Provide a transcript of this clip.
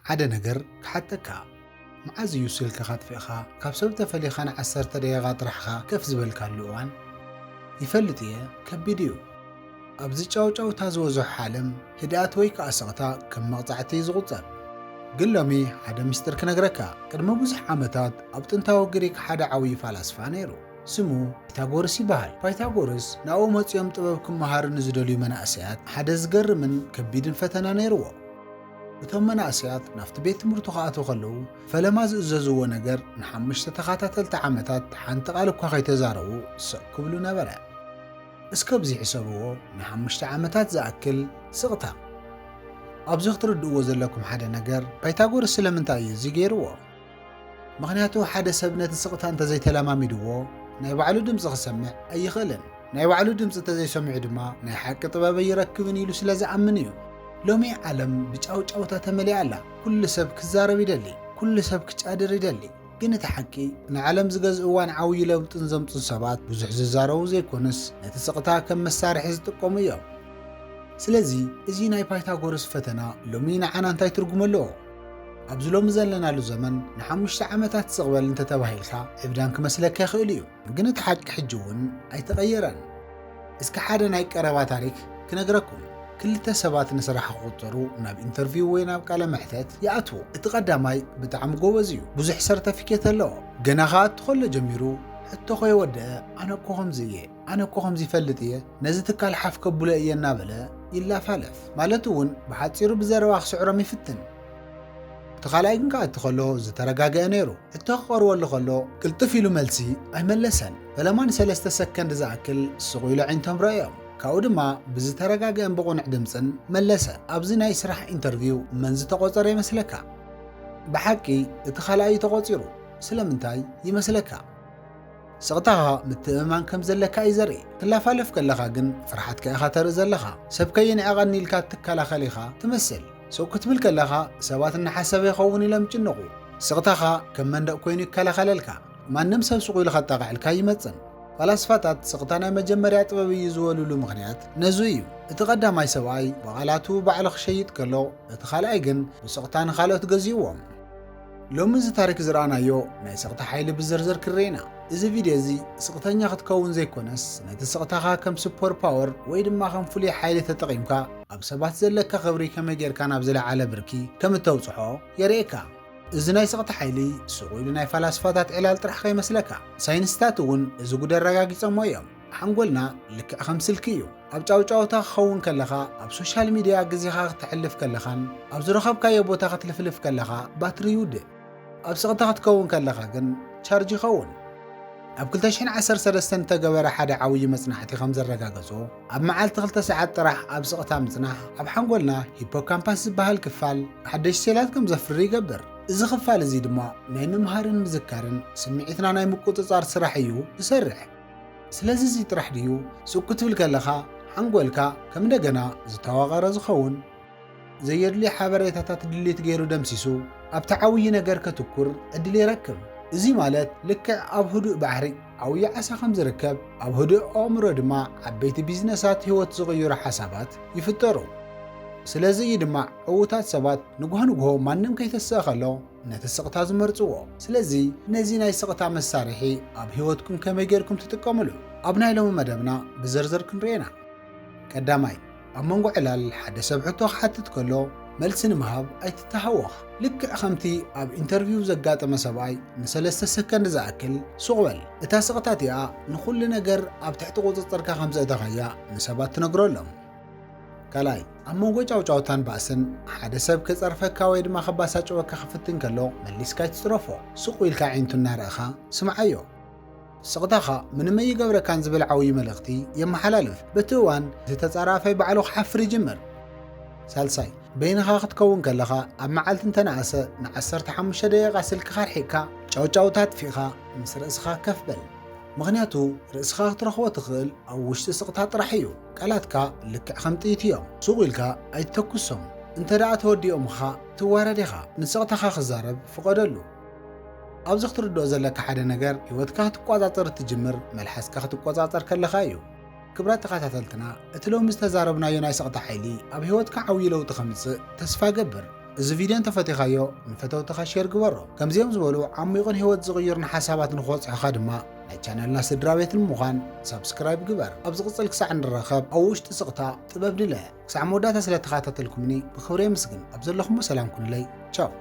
ሓደ ነገር ክሓተካ መዓዝ እዩ ስልክኻ ኣጥፊእኻ ካብ ሰብ ተፈሊኻ ን ዓሰርተ ደቂቃ ጥራሕኻ ከፍ ዝበልካሉ እዋን? ይፈልጥ እየ ከቢድ እዩ ኣብዚ ጫውጫውታ ዝበዝሖ ዓለም ህድኣት ወይ ክኣ ስቕታ ከም መቕጻዕቲ እዩ ዝቑጸር ግን ሎሚ ሓደ ምስጢር ክነግረካ ቅድሚ ብዙሕ ዓመታት ኣብ ጥንታዊ ግሪክ ሓደ ዓብዪ ፋላስፋ ነይሩ ስሙ ፓይታጎርስ ይበሃል ፓይታጎርስ ናብኡ መጺኦም ጥበብ ክመሃሩ ንዝደልዩ መናእሰያት ሓደ ዝገርምን ከቢድን ፈተነ ነይርዎ እቶም መናእሰያት ናብቲ ቤት ትምህርቱ ክኣትዉ ከለዉ ፈለማ ዝእዘዝዎ ነገር ንሓሙሽተ ተኸታተልቲ ዓመታት ሓንቲ ቓል እኳ ከይተዛረቡ ስቕ ክብሉ ነበረ። እስከ ኣብዚ ሕሰብዎ፣ ንሓሙሽተ ዓመታት ዝኣክል ስቕታ! ኣብዚ ክትርድእዎ ዘለኩም ሓደ ነገር፣ ፓይታጎርስ ስለምንታይ እዩ እዚ ገይርዎ? ምኽንያቱ ሓደ ሰብ ነቲ ስቕታ እንተዘይተለማሚድዎ ናይ ባዕሉ ድምጺ ክሰምዕ ኣይኽእልን። ናይ ባዕሉ ድምጺ እንተዘይሰሚዑ ድማ ናይ ሓቂ ጥበብ ኣይረክብን ኢሉ ስለ ዝኣምን እዩ። ሎሚ ዓለም ብጫውጫውታ ተመሊኣ ኣላ። ኩሉ ሰብ ክዛረብ ይደሊ፣ ኩሉ ሰብ ክጫድር ይደሊ። ግን እቲ ሓቂ ንዓለም ዝገዝእዋን ዓብዩ ለውጥን ዘምጹን ሰባት ብዙሕ ዝዛረቡ ዘይኮኑስ ነቲ ስቕታ ከም መሳርሒ ዝጥቀሙ እዮም። ስለዚ እዚ ናይ ፓይታጎረስ ፈተና ሎሚ ንዓና እንታይ ትርጉም ኣለዎ? ኣብዚ ሎሚ ዘለናሉ ዘመን ንሓሙሽተ ዓመታት ስቕ በል እንተተባሂልካ ዕብዳን ክመስለካ ይኽእል እዩ፣ ግን እቲ ሓቂ ሕጂ እውን ኣይተቐየረን። እስኪ ሓደ ናይ ቀረባ ታሪክ ክነግረኩም። ክልተ ሰባት ንስራሕ ክቕጸሩ ናብ ኢንተርቪው ወይ ናብ ቃለ መሕተት ይኣትዉ። እቲ ቀዳማይ ብጣዕሚ ጎበዝ እዩ፣ ብዙሕ ሰርተፊኬት ኣለዎ፣ ገና ክኣቱ ከሎ ጀሚሩ ሕቶ ከየወደኣ ኣነ እኮ ከምዚ እየ፣ ኣነ እኮ ከምዚ ይፈልጥ እየ ነዚ ትካል ሓፍ ከብሎ እየ እናበለ ይላፋለፍ ማለት እውን ብሓፂሩ ብዘረባ ክስዕሮም ይፍትን። እቲ ካልኣይ ግን ክኣቲ ከሎ ዝተረጋገአ ነይሩ ሕቶ ክቐርበሉ ከሎ ቅልጥፍ ኢሉ መልሲ ኣይመለሰን ፈለማ ንሰለስተ ሰከንድ ዝኣክል ስቑ ኢሉ ኣዒንቶም ረኣዮም ካብኡ ድማ ብዝተረጋገአን ብቑንዕ ድምፅን መለሰ ኣብዚ ናይ ስራሕ ኢንተርቪው መን ዝተቖፀረ ይመስለካ? ብሓቂ እቲ ካልኣይ እዩ ተቖፂሩ ስለምንታይ ይመስለካ? ስቕታኻ ምትእምማን ከም ዘለካ እዩ ዘርኢ። ክትላፋለፍ ከለኻ ግን ፍርሓትካ ኢኻ ተርኢ ዘለኻ። ሰብ ከይንዕቐኒ ኢልካ እትከላኸል ኢኻ ትመስል። ሱቕ ክትብል ከለኻ ሰባት እናሓሰበ ይኸውን ኢሎም ይጭነቑ። ስቕታኻ ከም መንደቕ ኮይኑ ይከላኸለልካ። ማንም ሰብ ሱቕ ኢሉ ከጣቕዐልካ ኣይመጽን። ፈላስፋታት ስቕታ ናይ መጀመርያ ጥበብ እዩ ዝበልሉ ምኽንያት ነዙይ እዩ። እቲ ቀዳማይ ሰብኣይ ብቓላቱ ባዕሉ ክሸይጥ ከሎ፣ እቲ ካልኣይ ግን ብስቕታ ንኻልኦት ገዚእዎም። ሎሚ እዚ ታሪክ ዝረኣናዮ ናይ ስቕታ ሓይሊ ብዝርዝር ክንርኤና። እዚ ቪድዮ እዚ ስቕተኛ ክትከውን ዘይኮነስ ነቲ ስቕታኻ ከም ሱፐር ፓወር ወይ ድማ ከም ፍሉይ ሓይሊ ተጠቒምካ ኣብ ሰባት ዘለካ ክብሪ ከመይ ጌርካ ናብ ዝለዓለ ብርኪ ከም እተብጽሖ የርእየካ። እዚ ናይ ስቕታ ሓይሊ ሱቕ ኢሉ ናይ ፈላስፋታት ዕላል ጥራሕ ከይመስለካ። ሳይንስታት እውን እዚ ጉድ ኣረጋጊጸሞ እዮም። ሓንጎልና ልክዕ ከም ስልኪ እዩ። ኣብ ጫውጫውታ ክኸውን ከለኻ፣ ኣብ ሶሻል ሚድያ ግዜኻ ክተሕልፍ ከለኻን ኣብ ዝረኸብካዮ ቦታ ክትልፍልፍ ከለኻ ባትሪ ይውድእ። ኣብ ስቕታ ክትከውን ከለኻ ግን ቻርጅ ይኸውን። ኣብ ክልተ ሽሕን ዓሰርተ ሰለስተን እተገበረ ሓደ ዓውዪ መጽናዕቲ ከም ዘረጋገጾ፣ ኣብ መዓልቲ ክልተ ሰዓት ጥራሕ ኣብ ስቕታ ምጽናሕ፣ ኣብ ሓንጎልና ሂፖካምፓስ ዝበሃል ክፋል ሓደሽቲ ሴላት ከም ዘፍሪ ይገብር። እዚ ክፋል እዚ ድማ ናይ ምምሃርን ምዝካርን ስምዒትና ናይ ምቁጽጻር ስራሕ እዩ ዝሰርሕ። ስለዚ እዚ ጥራሕ ድዩ ሱቅ ክትብል ከለኻ ሓንጎልካ ከም እንደገና ዝተዋቐረ ዝኸውን? ዘየድልዩ ሓበሬታታት ድሊት ገይሩ ደምሲሱ ኣብቲ ዓውዪ ነገር ከትኩር ዕድል ይረክብ። እዚ ማለት ልክዕ ኣብ ህዱእ ባሕሪ ዓውዪ ዓሳ ከም ዝርከብ ኣብ ህዱእ ኣእምሮ ድማ ዓበይቲ ቢዝነሳት ህይወት ዝቕይሩ ሓሳባት ይፍጠሩ። ስለዚ እዩ ድማ ዕዉታት ሰባት ንግሆ ንግሆ ማንም ከይተስኣ ከሎ ነቲ ስቕታ ዝመርጽዎ። ስለዚ ነዚ ናይ ስቕታ መሳርሒ ኣብ ህይወትኩም ከመይ ጌርኩም ትጥቀምሉ? ኣብ ናይ ሎሚ መደብና ብዝርዝር ክንሪኦ ኢና። ቀዳማይ፣ ኣብ መንጎ ዕላል ሓደ ሰብ ሕቶ ክሓትት ከሎ መልሲ ንምሃብ ኣይትተሃወኽ። ልክዕ ከምቲ ኣብ ኢንተርቪው ዘጋጠመ ሰብኣይ ንሰለስተ ሰከንድ ዝኣክል ሱቕ በል። እታ ስቕታ እቲኣ ንኹሉ ነገር ኣብ ትሕቲ ቁጽጽርካ ከም ዘእተኻያ ንሰባት ትነግረሎም። ካልኣይ፣ ኣብ መንጎ ጫውጫውታን ባእስን፣ ሓደ ሰብ ክጸርፈካ ወይ ድማ ከባሳጨወካ ክፍትን ከሎ፣ መሊስካ ኣይትጽረፎ። ሱቕ ኢልካ ኣዒንቱ እናረእኻ ስምዓዮ። ስቕታኻ ምንም ኣይገብረካን ዝብል ዓውዪ መልእኽቲ የመሓላልፍ። በቲ እዋን፣ እቲ ተጻራፋይ ባዕሉ ክሓፍር ይጅምር። ሳልሳይ፣ በይንኻ ክትከውን ከለኻ፣ ኣብ መዓልቲ እንተነኣሰ ንዓሰርተ ሓሙሽተ ደቂቓ ስልክኻ ኣርሒቕካ፣ ጫውጫውታ ኣጥፊእኻ ምስ ርእስኻ ከፍ በል። ምኽንያቱ፣ ርእስኻ ክትረኽቦ ትኽእል ኣብ ውሽጢ ስቕታ ጥራሕ እዩ። ቃላትካ ልክዕ ከም ጥይት ኢዮም ሱቕ ኢልካ ኣይትተኩሶም እንተ ደኣ ተወዲኦምኻ ትዋረድ ኢኻ ንስቕታኻ ክዛረብ ፍቐደሉ ኣብዚ ክትርድኦ ዘለካ ሓደ ነገር ሂወትካ ክትቆጻጸር እትጅምር መልሓስካ ክትቆጻጸር ከለኻ ኢዩ ክብራት ተኸታተልትና እቲ ሎሚ ዝተዛረብናዮ ናይ ስቕታ ሓይሊ ኣብ ሂወትካ ዓብዩ ለውጢ ከምጽእ ተስፋ እገብር እዚ ቪድዮ እንተፈቲኻዮ ንፈተውትኻ ሼር ግበሮ። ከምዚኦም ዝበሉ ዓሚቝን ህይወት ዝቕይሩን ሓሳባት ንኽበጽሑኻ ድማ ናይ ቻነልና ስድራቤት ንምዃን ሳብስክራይብ ግበር። ኣብ ዝቕጽል ክሳዕ እንራኸብ ኣብ ውሽጢ ስቕታ ጥበብ ድለ። ክሳዕ መወዳእታ ስለተኻታተልኩምኒ ብኽብሪ የምስግን። ኣብ ዘለኹሞ ሰላም ኩኑለይ። ቻው።